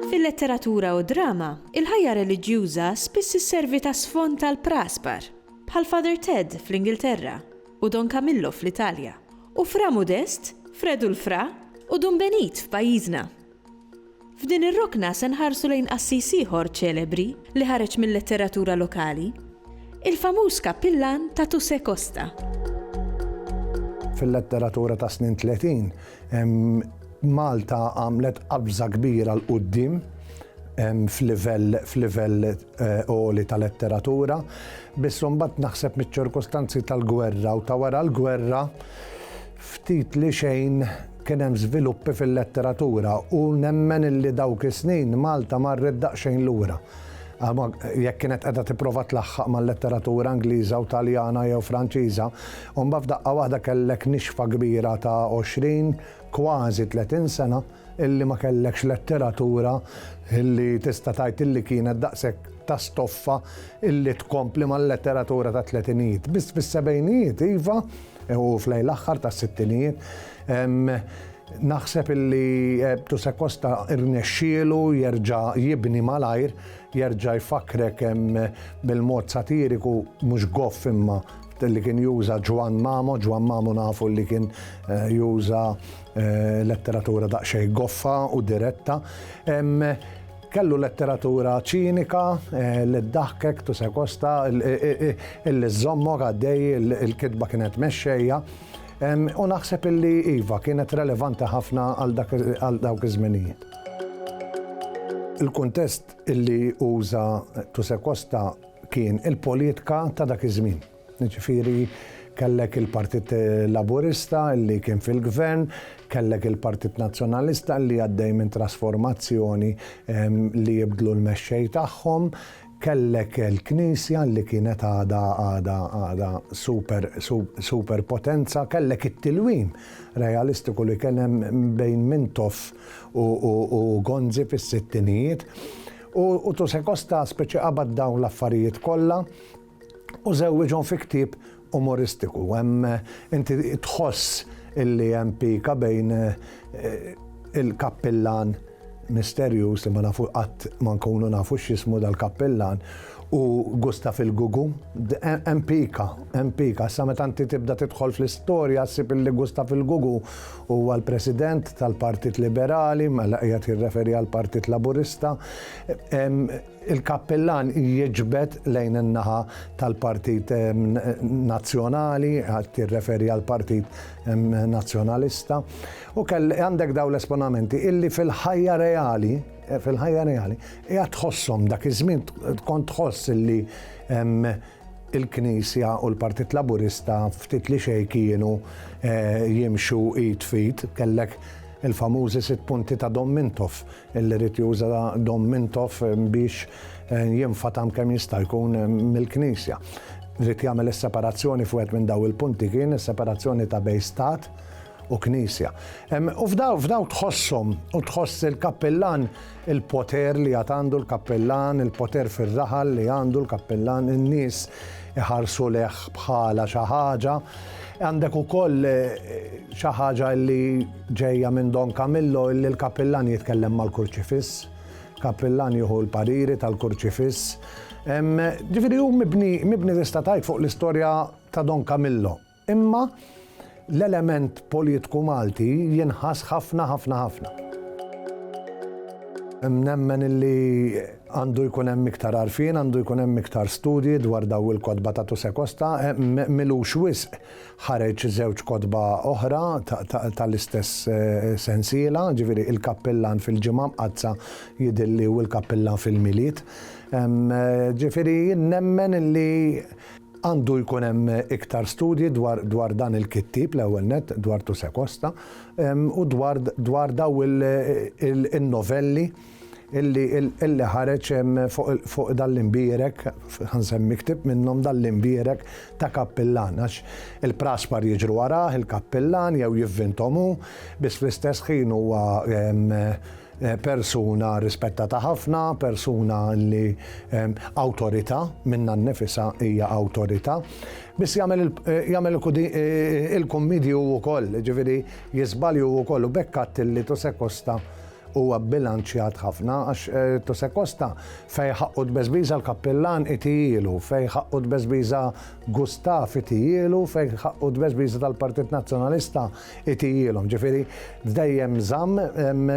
Fil-letteratura u d-drama, il-ħajja reliġjuża spiss isservi ta' sfond għal praspar, bħal Father Ted fl-Ingilterra u Don Camillo fl-Italja, u Fra Mudest, Fred u l-Fra, u Dun Benit f'pajjiżna. F'din ir-rokna se nħarsu lejn qassis ieħor ċelebri li ħareġ mil-letteratura lokali, il-famuż kappillan ta' Tuse Costa. Fil-letteratura tas-snin tletin, Malta għamlet qabża kbira 'l quddiem f'livell għoli ta' letteratura, biss imbagħad naħseb miċ-ċirkustanzi tal-gwerra u ta' wara l-gwerra ftit li xejn Kien hemm żviluppi fil-letteratura u nemmen illi dawk is-snin Malta marret daqsxejn lura. Jekk kienet qiegħda tipprova tlaħħaq mal-letteratura Ingliża u Taljana jew Franċiża, u mbagħad f'daqqa waħda kellek nixfa kbira ta' għoxrin, kważi tletin sena illi ma kellekx letteratura illi tista' tgħid illi kienet daqshekk ta' stoffa illi tkompli mal-letteratura tat-tletinijiet. Biss fis-sebgħinijiet, iva, U f'lejn l-aħħar tas-sittinijiet naħseb illi Tuse Costa rnexxielu jerġa' jibni malajr, jerġa' jfakkrek bil-mod satiriku, mhux goff imma, li kien juża Ġwann Mamo, Ġwann Mamo nafu li kien juża letteratura daqsxejn goffa u diretta. Kellu letteratura ċinika li ddaħkek, tusekosta, illi żżommok għaddej, il-kitba kienet mexxejja. U naħseb illi iva, kienet relevanti ħafna għal dawk iż-żminijiet. Il-kuntest illi uża Tusekosta kien il-politika ta' dak iż-żmien. Jiġifieri kellek il-Partit Laburista li kien fil-Gvern, kellek il-Partit Nazzjonalista li għaddej minn trasformazzjoni li jibdlu l-mexxej tagħhom, kellek il-Knisja li kienet għadha għadha għadha super super potenza, kellek it-tilwim realistiku li kien hemm bejn Mintoff u Gonzi fis-sittinijiet u Tusekosta speċi qabad dawn l-affarijiet kollha, u żewwiġhom fi ktieb umoristiku. Hemm inti tħoss illi hemm pika bejn eh, il-kappillan misterjuż li ma nafu qatt ma nkunu nafu x'ismu dal-kappillan u Gustaf il-Gugu. Hemm pika, hemm pika. Sa meta inti tibda tidħol fl-istorja ssib illi Gustaf il-Gugu huwa l-President tal-Partit Liberali, mela qiegħed jirreferi għall-Partit Laburista. Il-kappillan jiġbed lejn in-naħa tal-Partit Nazzjonali, qed jirreferi għall-Partit Nazzjonalista, u kell, għandek dawn l-esponamenti illi fil-ħajja reali, fil-ħajja reali, qiegħed tħosshom dak iż-żmien kont tħoss illi il-Knisja u l-Partit Laburista ftit li xejn kienu jimxu id f'id. Kellek il-famużi sitt punti ta' Dom Mintoff, li ried juża Dom Mintoff biex jinfatam kemm jista' jkun mill-Knisja. Ried jagħmel is-separazzjoni f'wieħed minn dawn il-punti kien is-separazzjoni ta' bejn Stat u Knisja. U f'dawn tħosshom u tħoss il-Kappillan il-poter li għad għandu l-kappillan, il-poter fir-raħal li għandu l-kappillan, in-nies iħarsu lejh bħala xi ħaġa. Għandek ukoll xi ħaġa li ġejja minn Don Camillo li l-kappillan jitkellem mal-kurċifiss, kappillan jieħu l-pariri tal-kurċifiss. Ġifieri hu mibni mibni tista' tgħid fuq l-istorja ta' Don Camillo. Imma l-element politku Malti jinħass ħafna ħafna ħafna. Nemmen illi għandu jkun hemm iktar għarfien, għandu jkun hemm iktar studji dwar daw il-kotba ta' Tuse Costa, milux wisq ħareġ żewġ kotba oħra tal-istess eh, sensiela, ġifieri il-kappillan fil-ġimgħa mqaddsa jidilli u l-kappillan fil-milied. Eh, ġifieri nemmen illi Għandu jkun hemm iktar studji dwar dwar dan il-kittieb l-ewwel nett, dwar Tuse Costa, u dwar dwar daw in-novelli illi illi ħareġ fuq fuq dan l-imbierek, ħa nsemmi ktieb minnhom dan l-imbierek ta' kappillan għax il-praspar jiġru warah, il-kappillan jew jivvinthom hu, biss fl-istess ħin huwa Persuna rispettata ħafna, persuna li awtorità, minnha nnifisha hija awtorità. Biss jagħmel jagħmel il-kummedji hu wkoll, jiġifieri jiżbalji hu wkoll u b'hekk għedt li Tusekosta huwa bbilanċjat ħafna għax Tusekosta fejn ħaqqu tbeżbiża l-kappillan itihielu, fejn ħaqqu tbeżbiża Gustaf itihielu, fejn ħaqqu tbeżbiża tal-Partit Nazzjonalista Itijilhom, ġifieri dejjem żamm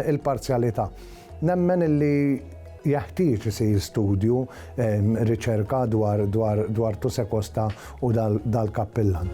il-parzjalità. Nemmen illi jeħtieġ isir studju, riċerka dwar Tuse Costa u dal-kappillan.